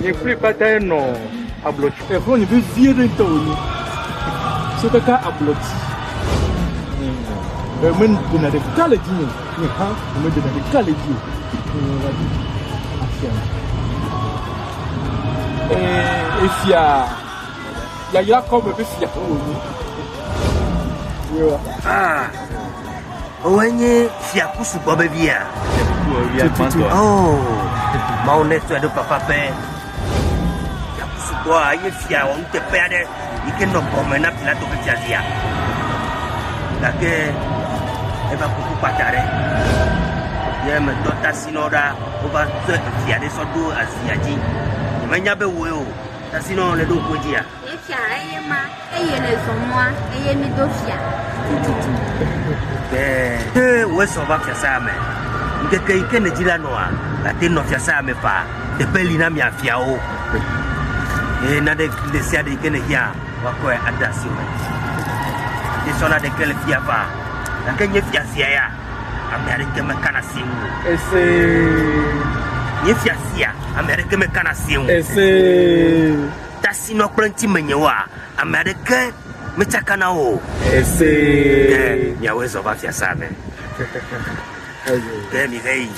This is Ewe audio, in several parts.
Nye kple kpata nɔ ablɔ dzi. Exɔ nye vevie ɖe ŋutɔ wònye. So kaka ablɔ dzi. Eme dena ɖeka le dzi me. Nye hã eme dena ɖeka le dzi o. Efia yayra kɔme ƒe fia wònye. Ah. Wòe nye fia ku sugbɔ vevia. Tututu oh, Mawu ne sɔe ɖo papa ƒe. Fia ku sugbɔ enye fia wɔ nuteƒe aɖe yi ke nɔ gɔme na Pilato ƒe fiazia. Gake eva kuku kpata aɖe. Ye metɔ tasi nɔ ɖa wova tɔ fia ɖe sɔ ɖo azia dzi. Menya be wòe o. Tasi nɔ le ɖo ŋkue dzia. Nye fia, eye ma, eye nèzɔ mɔa, eye mido fia tututu. Ke ne wòezɔ va fiasãa me, ŋkeke yi ke nèdi la nɔa, nàte ŋu nɔ fiasãa me faa. Teƒe li na mia fiawo, eye nane ɖe sia ɖe yi ke nèhiã woakɔe ade asiwò. Míesɔ naneke le fia faa, gake nye fia sia ya, ame aɖeke mekana asi eŋu o. Esee. Nye fia sia, ame aɖeke mekana asi eŋu o. Esee. Tasi nɔ kple ŋti menye woa, ame aɖeke metsaka na wo o. Esee. Ke miawɔe zɔ va fiasaa me. Ke mihe yi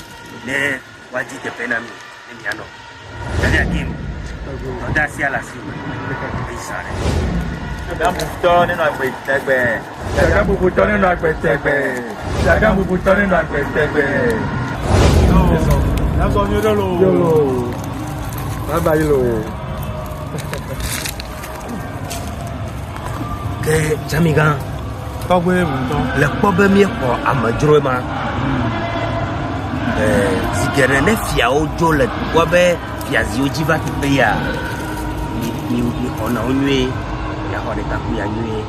ne woadi teƒe na mi ne mianɔ. Dadaa Kim, dɔdasia le asiwò. Eyi sa ɖe. Ame bubutɔ nenɔ agbe tegbee. Shagam bubutɔ nenɔ agbe tegbee. Shagam bubutɔ nenɔ agbe tegbee. Yasɔ nyuie ɖe lo. Yolo. Bye bye yolo. Ke Jamigan. Tɔgbe ŋutɔ. Le kpɔ be míexɔ amedzroe ma. Ɛɛ zi geɖe ne fiawo dzo le dukɔ be fiaziwo dzi va teƒe ya. Mi mi mi xɔna wo nyuie. Miaxɔ ɖekakuya nyuie.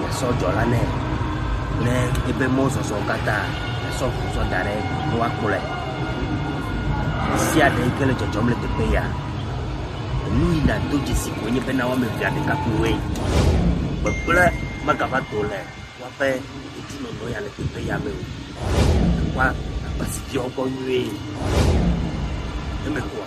Miasɔ dzɔ la nɛ kple eƒe mɔzɔzɔwo katã. Miasɔ ŋu tsɔ da ɖe egbɔ be woakplɔe. Ɖe sia ɖe yike le dzɔdzɔm le teƒe ya, enu yi nàdo dzesi koe nye bena woame evea ɖekakpuiwoe. Gbegblẽ megava do le woaƒe dedinɔnɔ ya le teƒe ya me o. Teƒea akpa asi viawo gbɔ nyuie. Eme kɔa?